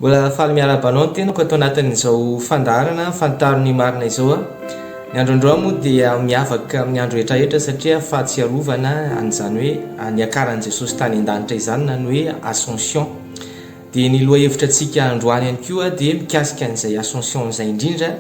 Mbola faly miarahaba anao ny tenako ato anatin'izao fandaharana fantaro ny marina izao a. Ny andro androany moa dia miavaka amin'ny andro rehetra rehetra satria fahatsiarovana an'izany hoe niakaran'i Jesosy tany an-danitra izany na ny hoe ascension. Dia ny lohahevitra antsika androany ihany koa dia mikasika an'izay ascension izay indrindra.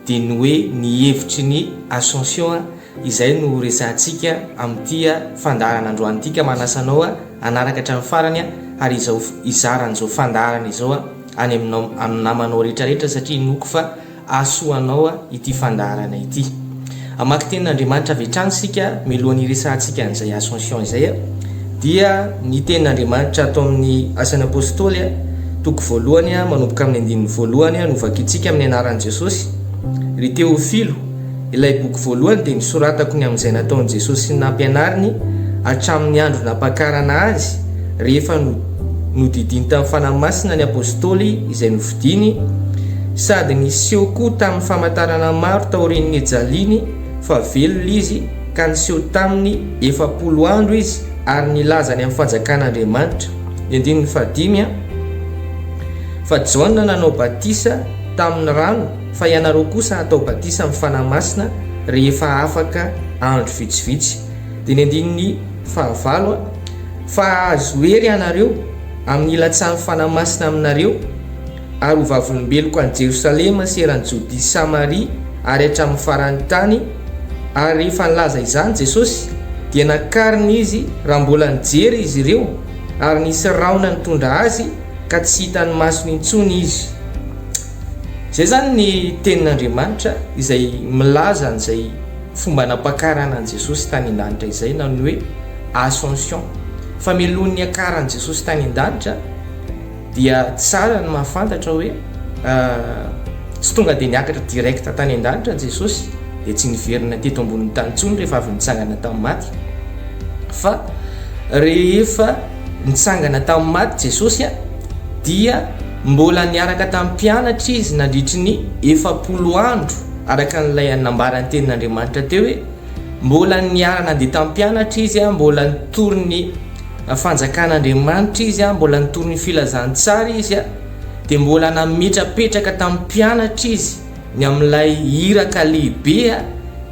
dia ny hoe ny hevitry ny Ascension a! izay no ho resahantsika amin'ity fandaharana androany ity ka manasa anao hanaraka hatramin'ny farany a! ary izao hizara an'izao fandaharana izao a! any aminao amin'ny namanao rehetra rehetra satria inoako fa hahasoa anao ity fandaharana ity. Hamaky tenin'Andriamanitra avy hatrany isika mialohan'ny hiresahantsika an'izay Ascension izay dia ny tenin'Andriamanitra ato amin'ny Asan'ny Apôstôly toko voalohany manomboka amin'ny andininy voalohany no vakintsika amin'ny anaran'i Jesosy. Ry Teofilo, ilay boky voalohany dia nosoratako ny amin'izay nataon'i Jesosy sy ny nampianariny hatramin'ny andro nampakarana Azy rehefa nodidiany tamin'ny Fanahy Masina ny Apôstôly izay Diny, sady niseho koa tamin'ny famantarana maro taorian'ny nijaliany fa velona izy, ka niseho taminy efapolo andro izy ary nilaza ny amin'ny fanjakan'Andriamanitra. Ny andininy fahadimy a. Fa Jaona nanao batisa tamin'ny rano, fa ianareo kosa hatao batisa amin'ny Fanahy Masina rehefa afaka andro vitsivitsy. Dia ny andininy fahavalo a. Fa hahazo hery ianareo amin'ny ilatsahan'ny Fanahy Masina aminareo, ary ho vavolombeloko any Jerosalema sy eran'i Jodia sy Samaria ary hatramin'ny faran'ny tany, ary rehefa nilaza izany Jesosy, dia nakarina izy raha mbola nijery izy ireo, ary nisy rahona nitondra azy ka tsy hitan'ny masony intsony izy. Izay izany ny tenin'Andriamanitra izay milaza an'izay. Fomba nampakarana an'i Jesosy tany an-danitra izay na ny hoe Ascension. Fa mialoha ny niakaran'i Jesosy tany an-danitra dia tsara ny mahafantatra hoe tsy tonga dia niakatra direct tany an-danitra Jesosy dia tsy niverina teto ambonin'ny tany intsony rehefa avy nitsangana tamin'ny maty fa rehefa nitsangana tamin'ny maty Jesosy dia mbola niaraka tamin'ny mpianatra izy nandritry ny efapolo andro Araka an'ilay nambaran'ny Tenin'Andriamanitra teo hoe, Mbola niara-nandeha tamin'ny mpianatra izy, mbola nitory ny Fanjakan'Andriamanitra izy, mbola nitory ny Filazantsara izy, dia mbola nametrapetraka tamin'ny mpianatra izy ny amin'ilay iraka lehibe,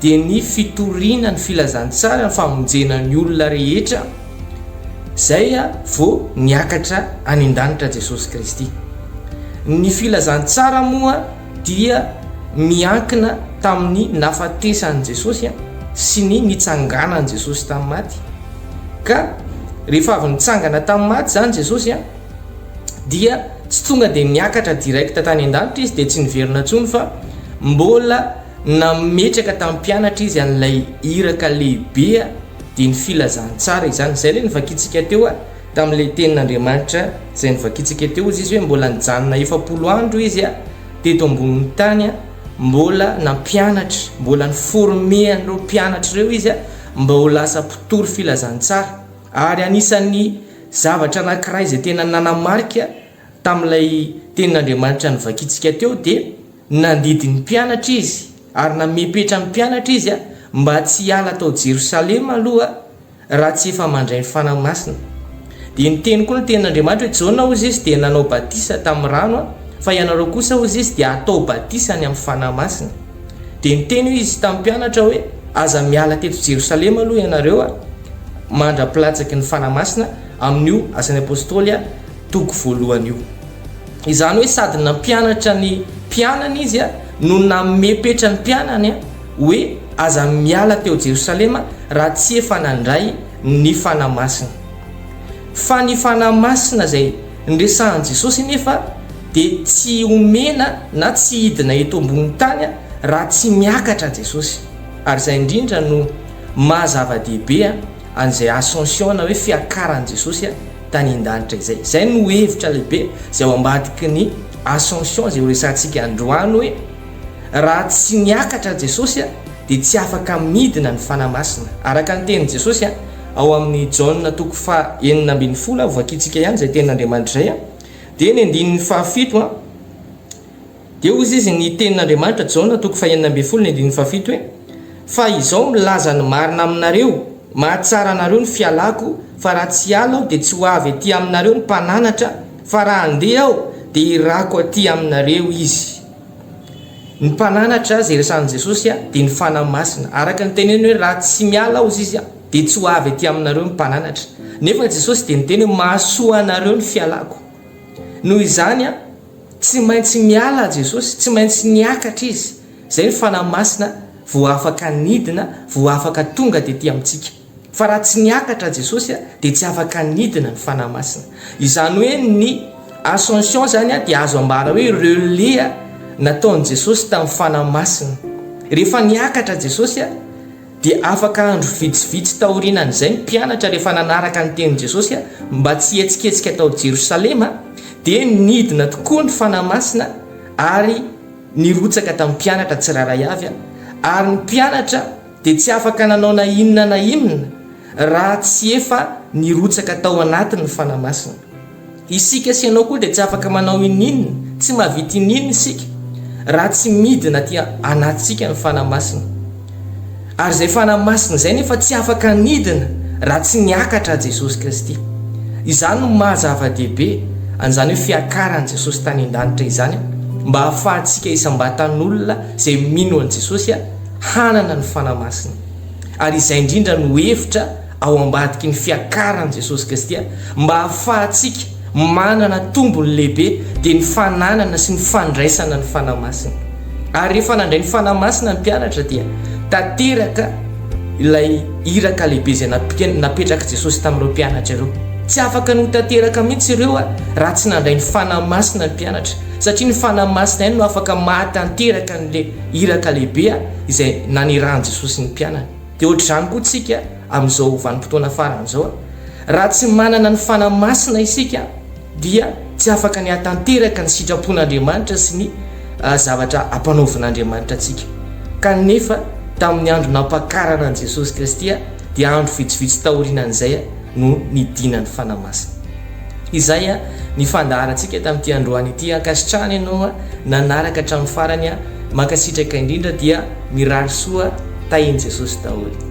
dia ny fitoriana ny Filazantsara, ny famonjena ny olona rehetra. Izay vao niakatra any an-danitra Jesosy Kristy. Ny Filazantsara moa. dia miankina tamin'ny nahafatesan'i Jesosy sy ny nitsanganan'i Jesosy tamin'ny maty ka rehefa avy nitsangana tamin'ny maty izany Jesosy dia tsy tonga dia niakatra direct tany an-danitra izy dia tsy niverina intsony fa mbola nametraka tamin'ny mpianatra izy an'ilay iraka lehibe dia ny filazantsara izany izay ilay ny vakintsika teo Tamin'ilay tenin'Andriamanitra izay novakintsika teo, hozy izy hoe mbola nijanona efapolo andro izy a, teto ambonin'ny tany a, mbola nampianatra, mbola ni-former an'ireo mpianatra ireo izy a, mba ho lasa mpitory filazantsara. Ary anisan'ny zavatra anankiray izay tena nanamarika tamin'ilay tenin'Andriamanitra novakintsika teo dia nandidy ny mpianatra izy ary namepetra ny mpianatra izy a, mba tsy hiala tao Jerosalema aloha, Raha tsy efa mandray ny Fanahy Masina. Dia niteny koa ny tenin'Andriamanitra hoe, Jaona, hoy Izy, dia nanao batisa tamin'ny rano an, fa ianareo kosa, hoy Izy, dia hatao batisa ny amin'ny Fanahy Masina. Dia niteny hoy Izy tamin'ny mpianatra hoe, Aza miala teto Jerosalema aloha ianareo an, mandra-pilatsaky ny Fanahy Masina, amin'io Asan'ny Apostoly an, toko voalohany io. Izany hoe sady nampianatra ny mpianany Izy an, no nanome petra ny mpianany an, Hoe aza miala teo Jerosalema raha tsy efa nandray ny Fanahy Masina. Fa ny Fanahy Masina izay niresahan'i Jesosy anefa dia tsy omena na tsy hidina eto ambony tany raha tsy miakatra Jesosy. Ary izay indrindra no maha zava-dehibe an'izay Ascension na hoe fiakaran'i Jesosy tany an-danitra izay. Izay no hevitra lehibe izay ao ambadiky ny Ascension izay horesahantsika androany hoe, Raha tsy niakatra Jesosy dia tsy afaka midina ny Fanahy Masina. Araka ny tenin'i Jesosy ao amin'ny Jaona toko faha enina ambin'ny folo, hovakiantsika ihany izay tenin'Andriamanitra izay, dia ny andininy faha fito, dia hoy izy, ny tenin'Andriamanitra, Jaona toko faha enina ambin'ny folo ny andininy faha fito hoe, Fa izao milaza ny marina aminareo, mahatsara anareo ny fialako, fa raha tsy hiala aho dia tsy ho avy aty aminareo ny mpananatra, fa raha handeha aho dia hirako aty aminareo izy. Ny mpananatra azy iresahan'i Jesosy dia ny Fanahy Masina. Araka ny teneny hoe raha tsy miala aho, hozy izy, dia tsy ho avy aty aminareo ny mpananatra. Nefa Jesosy dia niteny hoe mahasoa anareo ny fialako. Noho izany, tsy maintsy miala Jesosy, tsy maintsy niakatra izy, izay ny Fanahy Masina vao afaka nidina, vao afaka tonga tety amintsika. Fa raha tsy niakatra Jesosy dia tsy afaka nidina ny Fanahy Masina. Izany hoe ny Ascension izany dia azo ambara hoe relais nataon'i Jesosy tamin'ny Fanahy Masina. Rehefa niakatra Jesosy dia afaka andro vitsivitsy taorianan'izay ny mpianatra rehefa nanaraka ny tenin'i Jesosy mba tsy hihetsiketsika tao Jerosalema dia nidina tokoa ny Fanahy Masina ary nirotsaka tamin'ny mpianatra tsirairay avy ary ny mpianatra dia tsy afaka nanao na inona na inona raha tsy efa nirotsaka tao anaty ny Fanahy Masina. Isika sy ianao koa dia tsy afaka manao ininona, tsy mahavita ininona isika raha tsy midina aty anatintsika ny Fanahy Masina. Ary izay Fanahy Masina izay nefa tsy afaka hanidina raha tsy niakatra Jesosy Kristy. Izany no maha zava-dehibe an'izany hoe fiakaran'i Jesosy tany an-danitra izany mba hahafahantsika isam-batan'olona izay mino an'i Jesosy hanana ny Fanahy Masina, ary izay indrindra no hevitra ao ambadiky ny fiakaran'i Jesosy Kristy, mba hahafahantsika manana tombony lehibe, dia ny fananana sy ny fandraisana ny Fanahy Masina. Ary rehefa nandray ny Fanahy Masina ny mpianatra dia tanteraka ilay iraka lehibe izay napetrak'i Jesosy tamin'ireo mpianatra ireo. Tsy afaka ny ho tanteraka mihitsy ireo raha tsy nandray ny Fanahy Masina ny mpianatra, satria ny Fanahy Masina ihany no afaka mahatanteraka an'ilay iraka lehibe izay nanirahan'i Jesosy ny mpianany. Dia hoatr'izany koa isika amin'izao vanim-potoana farany izao. Raha tsy manana ny Fanahy Masina isika dia tsy afaka ny hahatanteraka ny sitrapon'Andriamanitra sy ny zavatra ampanaovin'Andriamanitra antsika. Kanefa tamin'ny andro nampakarana an'i Jesosy Kristy dia andro vitsivitsy taorianan'izay, no nidinan'ny Fanahy Masina. Izay ny fandaharantsika tamin'ity androany ity. Ankasitrahana ianao nanaraka hatramin'ny farany aho. Mankasitraka indrindra dia mirary soa tahin'i Jesosy daholo.